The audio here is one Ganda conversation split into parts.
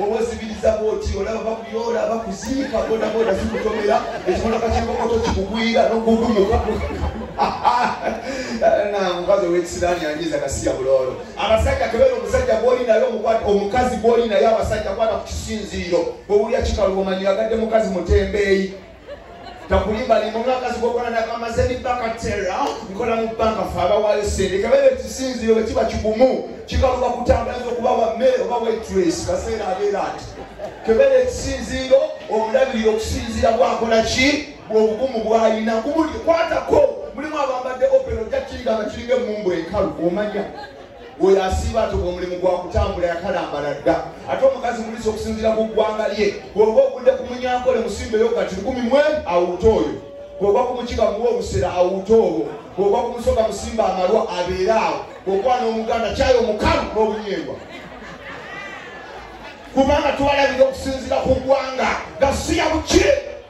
obwezibiriza bwoti olaba bakuyola bakuziika bodaboda zikutomera ekimotoka kyekokoto kikugwira nogugumuka mukazi owekisiraani anyiza kasiya buloolo abasajja kebeera omusajja gwoli naye omukwata omukazi gwoli naye abasajja kwata ku kisinziiro bwewulya kikalu omanyira gadde mukazi mutembeeyi takulimbali mu mwaka zigokona nakamaze ebibaka tera nkola mu banka fe abawaayo sente kabera ekisinziro bwe kiba kigumu kikaluba kutambulanza okuba wa mmere oba waitress kaseera abeera ati kebera ekisinziiro omulabirira okusinziira bwakola ki bwobugumu bwalina kubuli kwatako mulimu abambadde opera ojja kiyiganga kiringa emumbu enkalu omanya oyo asiiba atoka omulimu gwa kutambula yakalambala dda ate omukazi mulisa okusinziira ku ggwanga lye bwoba ogudde ku munyankole musimbeyo kati lukumi mwe awuuta oyo bwoba ku mukiga muwa obusera awuuta obwo bwoba ku musoga musimba amalwa abeere awo bwokwana omuganda kyayo omukalu n'obunyeebwa kubanga tubalabira okusinziira ku ggwanga gasiya buki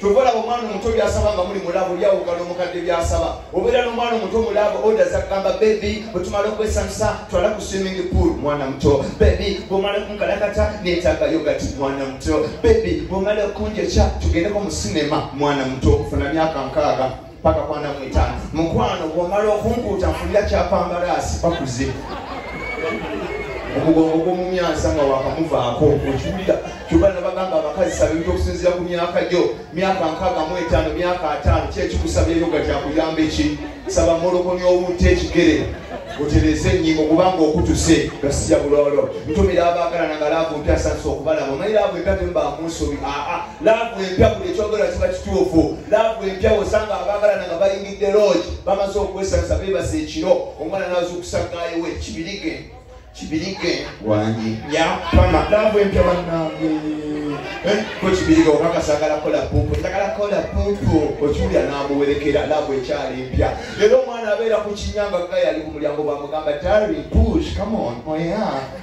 kyova olaba omwana omuto byasaba nga muli mulabo byawuka nomukadde byasaba obeera nomwana omuto mulabo oda zagamba bebi bwetumala okwesansa twala ku swimming pool mwana muto bebi bwomala okunkalakata netaga yogati mwana muto bebi bwomala okunjokya tugendeko mu sinema mwana muto funa myaka nkaaga paka kwana mwita mukwano bwomala okunkuuta nfunira kyapambalaasi bakuze omugongo gwomumyansa nga wakamuvaako okiwulira kyuba nabagamba abakazi sabintu okusinzira ku myaka gyo myaka nkaaga mu etaano myaka ataano kyekikusabyeyo nga kyakuyamba eki saba molokonya owunta ekigere otereze enyingo kubanga okutuse gasija bulolo ntumira abaagalana nga laavu mpyasansa okubalaba omanyi laavu empya temba munsobi aa laavu empya buli ekyogera kiba kituufu laavu empya osanga abaagalana nga bayingidde loogi bamaze okwesansa beebasa ekiro omwana nazuukusa gaayowe kibirige kibirige wangi yapama laavu empya banange eh, ko kibirige obakasagala kola pumpu njagala kola pumpu okiwulira namuwerekera laavu ekyali empya era omwana abeera ku kinyanga gayali ku mulyango bamugamba tari push come on oya oh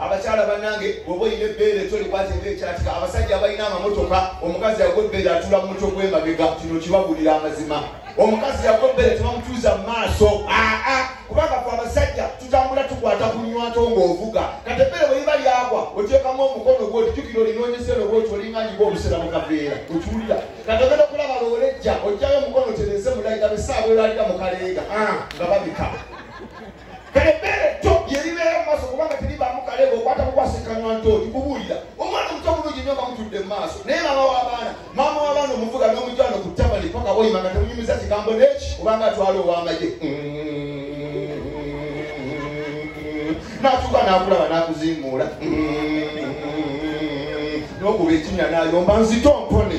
abakyala banange oba oyina ebbeere tolikwate nga ekyatika abasajja abalina amamotoka omukazi yagwa ebbeere atula mu mutwe gw'emabega kino kibabulira amazima omukazi yagwa ebbeere tebamutuuza mu maaso aa kubanga fe abasajja tutambula tukwata ku nywato ng'ovuga kati ebbeere bwe liba lyagwa oteekamu omukono gwe otijukira olinoonyesero bwoti olinganyiga obusera mu kaveera okiwulira kati ogenda okulaba loolejja ojjayo omukono tereze mulayi gabe saawa elalira mu kaleega nga babika kale ebbeere tto lye libeera mu maaso kubanga teribaamu kaleega okwata kukwasinkanywa ntooli kubuulira omwana omuto bulungi nnyo nga mutudde mu maaso naye maama w'abaana maama w'abaana omuvuga n'omujwano ku tabali paka woyima nga temunyumiza kigambo neki obanga atwala ow'amagye n'atuuka n'akulaba n'akuzimuula n'okuba ekinnya n'ayomba nzito mpone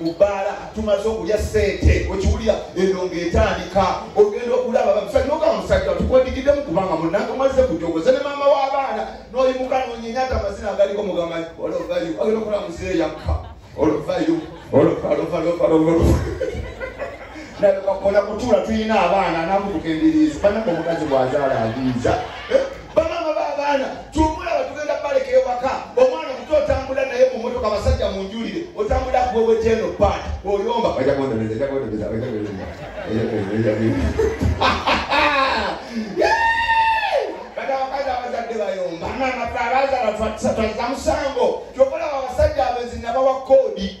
mu bbaala tumaze okulya ssente okiwulira eno ng'etandika ogenda okulaba bamusajja ogamba musajja tukwendigiddemu kubanga munange omazze kujogoze ne maama w'abaana n'oyimuka nonyenyata amazina agaliko mugamba olovayo agenda okola muzeeyi yakka olovayo olokakona kutuula tulina abaana namutuka embiriizi banako omukazi bw'azaala abiiza eh? bamama babaana tumulaba tugenda baleka ewaka omwana muto otambula naye mu motoka abasajja munjulire otambula kuweweteno pat oyomba bayomba nanafe abazala twazamusango kyokolaba abasajja abenzi nabawa koodi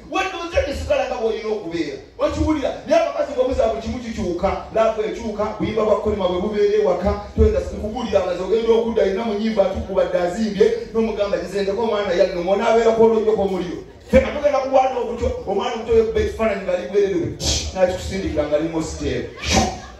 wendoze esigala nga bwolina okubeera okiwulira naye abakazi bwebuza buli kimu kikyuka laavu ekyuka buyimba bwa kolima bwe bubeera ewaka toyenda kubuulira amazi ogenda okudda alina mu nyimba atukubadde azimbye n'omugamba gizendeko omwana yannuma onaabeerako olwojoko omuliro fena tugenda kulwana okutyo omwana omutoyo kuba ekifaananyi nga ligwererewe nakikusindikira nga limu siteeru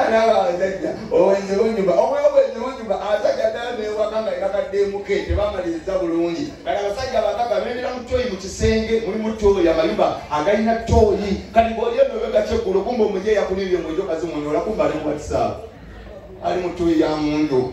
anaaba abasajja obwenzi bunyuma omwe obwenzi bunyuma abasajja ddala newaka nga yebakaddeemuke tebamaliriza bulungi kati abasajja abakaka bendera mu tooyi mu kisenge mulimu tooyi amayumba agalina tooyi kati bwoliyeno begakyeggulo kumba omujeeyakuliibye mwejokazimunyola kumba ali mu whatsapp ali mu tooyi ya mundu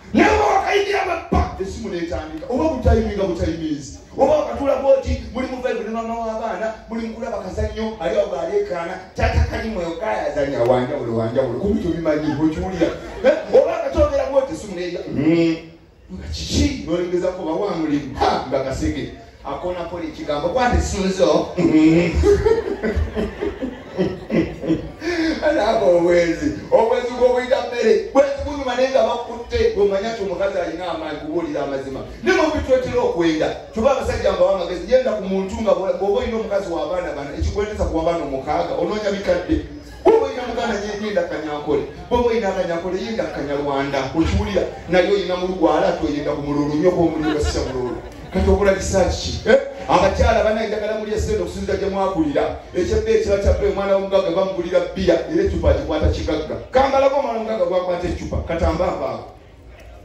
naye oba wakayingira mappa esimu netandika oba butayiminga butayiminzi oba wakatula bwoti muli muvaibu ne mama w'abaana muli mukulaba kazannyo ali awo aleekaana tata kalimu eyo kayazanya wanjawulo wanjawulo kubi tobimanyi okiwulira eh, oba akatogera bwoti esimu neya hmm. nga kiki nolengezako bawa mulimu nga kasege akona pole kigambo kwate sunzo alaba obwenzi obwenzi bwobuyita mmere bwenzi bunyuma naye nga bakutte omanya ti omukazi alina amaanyi kubuulira amazima ne mubitwetera okwenda tuba abasajja mbawa amagezi yenda ku muntu nga bwoba olina omukazi w'abaana bana ekikwendeza ku wabaana omukaaga onoonya bikadde bwoba olina muganda yegenda kanyankole bwoba olina kanyankole yenda kanyarwanda okiwulira naye olina mulugwala ati oyenda ku mululu nyo bomuliwasisa mululu kati okola kisaaki eh? abakyala bana enjagala muli esente okusinzira gye mwakulira ekyebba ekiba kyabba omwana w'omugagga bamugulira bbiya era ecupa agikwata kigagga kambalako omwana omugagga gwakwata ecupa katambaabaako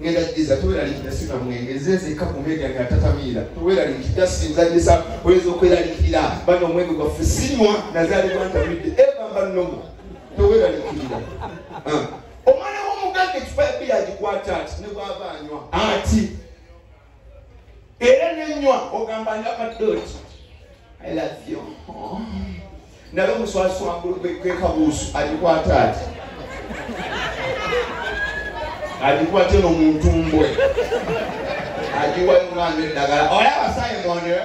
ngenda jiza toweralikira sika mwenge nzenzeka ku media nga tatamiira toweralikira sinzanyisa oyinza okweralikirira bano omwenge gwaffe sinywa nazalibwa ntamidde eva mba nomu toweralikirira ah. omwana w'omuganga ekipa ya biya agikwata ati ne bwava anywa ati era nenywa ogamba nga kadooti i love you naye omuswasi wangulu gwekabuusu agikwata ati agikwate nomuntumbwe agiwayo omwana eddagala olaba sayemondeo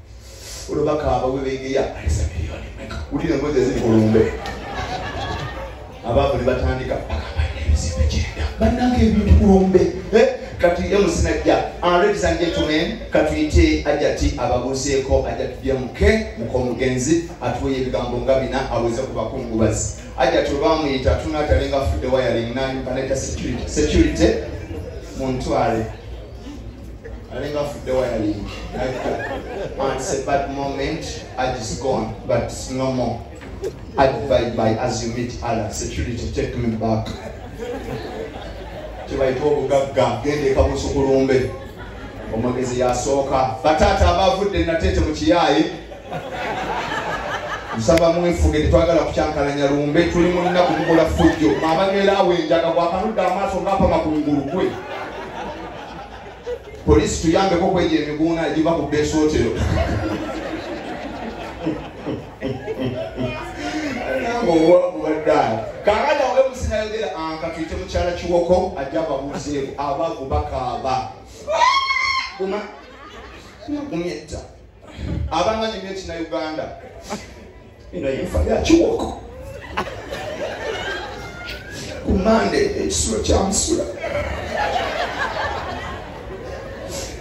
olwo bakaaba bwe beegeya alesa miliyoni meka wulira embozi eziri ku lumbe abaavu ne batandika bagamba n'ebizimbe gyenda bannanga ebintu ku lumbe eh, kati emusinajja aladies and gentlemen katuyite ajati ababuuseeko ajati byamuke mukomugenzi atuweyo ebigambo nga bina aweze ku bakungubazi ajati olwamuyita tunatalenga afudde wayaling nanyumba neta security muntwale alinga afudde wayalingi it's a bad moment ad is gone but it's no more ad by by as you meet other security take me back kyebayita obugagga gende ekabusu kulumbe omwogezi yasooka bataata abavudde nateete mu kiyaayi nsaba mwefuge tetwagala kukyankalanya lumbe tuli munaku mukola fujjo mabageera awo enjaga bwakanudde amaaso ngaapa makungulu gwe polisi tuyambeko kwejo emiguuna egiva ku besootero ngaowakubaddala kakati awo emusinayogera ankatwite ah, mukyala kiwoko ajja babuzeeko abavu bakaaba guma gumyetta abanga nyumya ekina uganda ino yenfa yakiwoko ku mande ekisulo kyamusula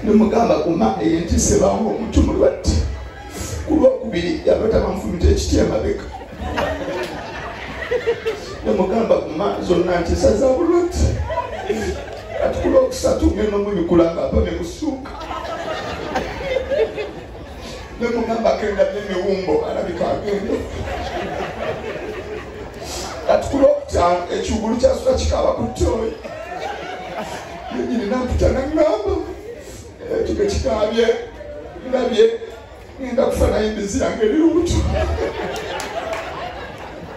nemugamba ku mande yentise bamu omuntu mulwadde ku lwokubiri yalota bamufumita ekiti emabega nemugamba ku ma zonna nti esaza bulwadde kati ku lwokusatu ngenda omubikula nga mpame kusuuka ne mugamba kenda nemiwumbo alabika agende kati ku lwokutaano ekigulu kyasula kikaaba ku tooyi yenyini namputa nangamba ekige eh, kikaabye ndabye ngenda kufa naye mbizi yange eri lubuto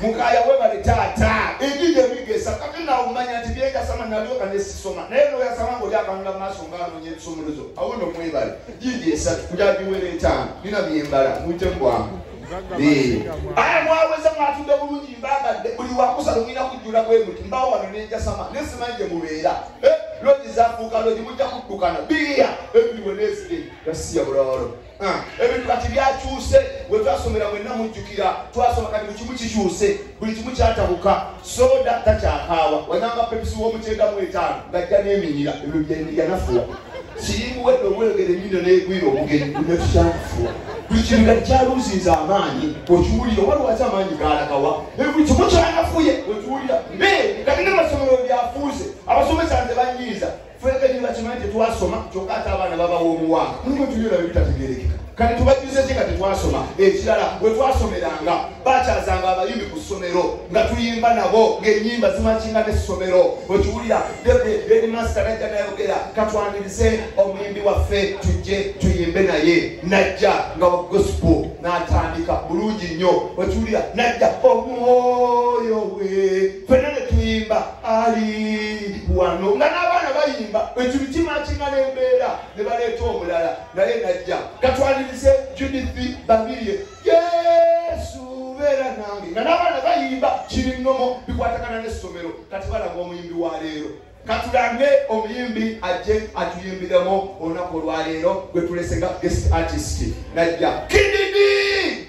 mukaya webale taata egiga ebigesa kati nawe omanya nti byeyasama nalyoka nesisoma naye noyasama nga olyakanula maaso nga anonya ebisomolozo awo no mwebale gigi esatu kujagiwera etaano nina byembala muyite mubwangu aya mwaweza mwatudde bulungi mbagadde buli wakusala mulina kujjula bwemuti mbawo wano nenjasama nesimanyi gye mubeera eh, logi zafuuka logi mujja kuddukana biya ebiriwe nesige gasiya bulawalo Ah, ebintu kati byakyuse wetwasomera mwenna mujjukira twasoma kati buli kimu kikyuse buli kimu kyatabuka soda takyakaawa wananga pepisi w'omukyenda mu etaano ngajja n'eminyira ebyo byeyanafuwa sirimu wedde obweyogere nyino negwira omugenyi gunetukyakufuwa buli kintu kati kyaluuzinza amaanyi okiwulira oba lwaki amaanyi gaalagawa buli kimu kyanafuye okiwulira naye kati ne masomero byafuuse abasomesa nze banyiiza fwebenyini bakimanyi tetwasoma kyokka ate abaana babawa omuwa mulimu tubyona bebitategerekeka kati tubajjuze ki nga tetwasoma ekirala bwe twasomeranga bakyazanga abayimbi ku ssomero nga tuyimba nabo ng'enyimba zimakinga n'essomero okiwulira edmasta najja nayogera katwanirize omuyimbi waffe tujje tuyimbe naye najja nga wa gospo n'atandika bulungi nnyo okiwulira najja omwoyo we fenane tuyimba ali wano nga n'abaana bayimba ekyo bitima kingana embeera ne baleeta omulala naye najja katwalirize judith babirye yesu beera nange nga n'abaana bayimba kiri nnomo bikwatagana n'essomero kati balaga omuyimbi wa leero katulange omuyimbi ajje atuyimbiremu olunaku olwaleero gwetulese nga guest artist najja kididi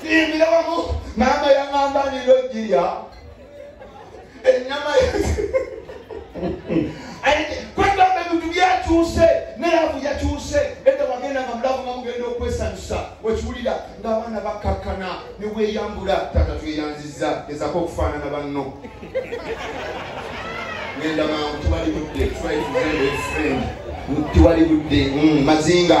tuyimbira wamu maama yangamba nilojirya enyama kwegamba ebintu byakyuse neravu yakyuse edda wagenda nga mulavu nga mugenda okwesanyusa wekiwulira ngaabaana bakakkana neweyambula tata tweyanziza ezako okufaanana banno genda mangu tewali budde tewali budde mm, mazinga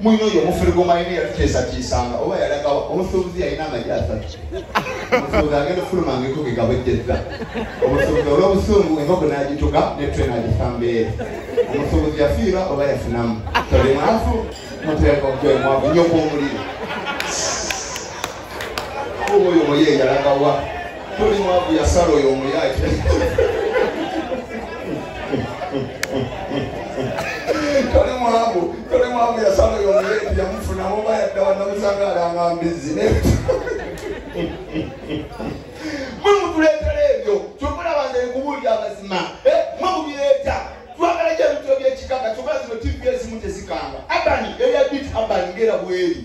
mwino oyo omufere gwomayina yatuteesatiisanga oba yalagawa omusuubuzi yalina amagi asatu omusuubuzi agenda okufuluma nga enkoko egabwejjezza omusuubuzi olw'obusungu enkoko n'agituga netwe n'agisa mbeere omusuubuzi yafiirwa oba yafunamu toli mwavu muteeka ogwemwavu nyo gw'omuliro oyo omuye yalagawa toli mwavu yasala oyo omuyake toli mwavu toli mwavu yasala oyo omuye yamufunamu oba yaddawa namusanga alanga mbizi mwe mutuleetera ebyo kyokulaba nze nkubuulira amazima eh, mwe mubireeta twagala gyebityo byekikaka kyoka zino tv ezimu tezikanga abani eya bit abani ngera bweri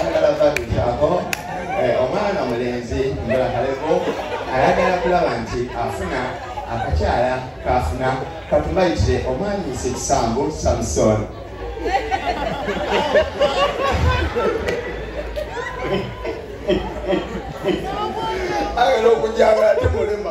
omulala babikyako eh, omwana mulenzi mbula kaleko ayagala kulaba nti afuna akakyala kafuna katumayitire omwami sekisambu samson ayagala okujanga ate mulema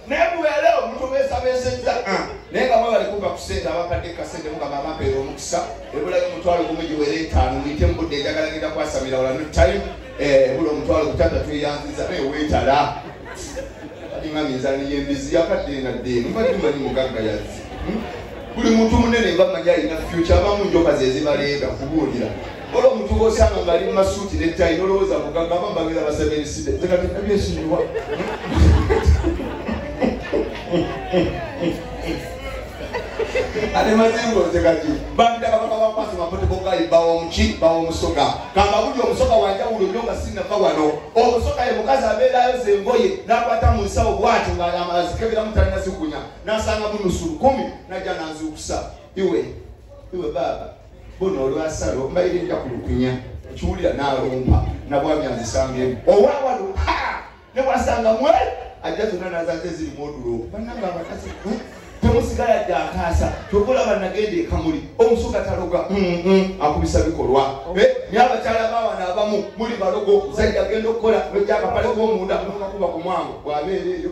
naye mubeerewo mutubeesabeesezza ah, naye nga mwebale kuva ku sente abakadde kasente mugamba amampeera omukisa ebulayo omutwalo gumu giwere etaano muyite mu budde enjagala ngenda kwasamira wala no time eh, ebula omutwalo gutata tweyanziza naye weetala alinga minzani yembizi yakadde nga dde mubadde manyi mugagga yazzi hmm? buli muntu munene mba manyi alina fyukya abamu njoka zezibaleega kubuulira Wala omuntu bw'osanga ng'ali mu masuuti ne ttayi n'olowooza mugagga aba mbabeera basabye ebiside nze kati nabyesonyiwa ate mazingo nze kati bandaba baba bakwasa mapote bogayi bawa omuki bawa omusoga kamba buli omusoga wanjawulo nyo nga sinnafa wano omusoga ye mukazi abeerayo ze engoye n'akwata mu nsawo bwati nga azikeberamu talina zikunya n'asanga mu nusu lukumi najja nanzuukusa iwe iwe baaba bona olwasala ombaire nja ku lukunya ekiwulira nalumpa nabwami azisangemu owawalo ne wasanga mwe ajja zonna nazaze ziri modulo bananga abakazi hmm? temusigala dde akaasa kyova olaba nagenda ekamuli omusuga taloga hmm, hmm, akubisa bikolwa eh, naye abakyala bawana abamu muli balogo zajja genda okukola nojakapale komunda nokakuba ku mwango bwabeereeyo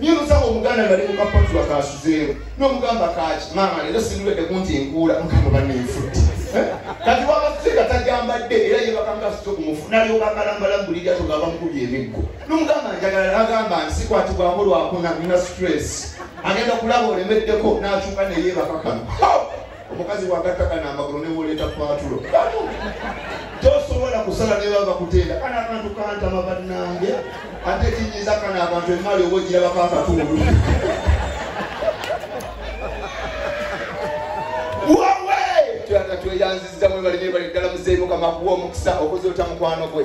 naye musaba omuganda nga limu kapatula kasuzeewo nomugamba kaki maama leero sindiwedde kunti nkuula mukama banenfuti eh? kati wabasega tajambadde era yebakangasitokumufnalyobakalambalamubuliga togamba mukubi emiggo nomugamba njagala nagamba nsikwatibwako lwakuna nina stress agenda kulaba olemeddeko nakyuka neyebakakano omukazi bwagatta kana amagulu newoleeta patulo tosobola kusala neba bakuteera kana akantu kantama bannange ate kinyiza kana abantu emaali oba ogirabako akatundu tweyanziza mwebalibye bali ddala muzeeyi mukama kuwa omukisa okuzoota mukwano gwe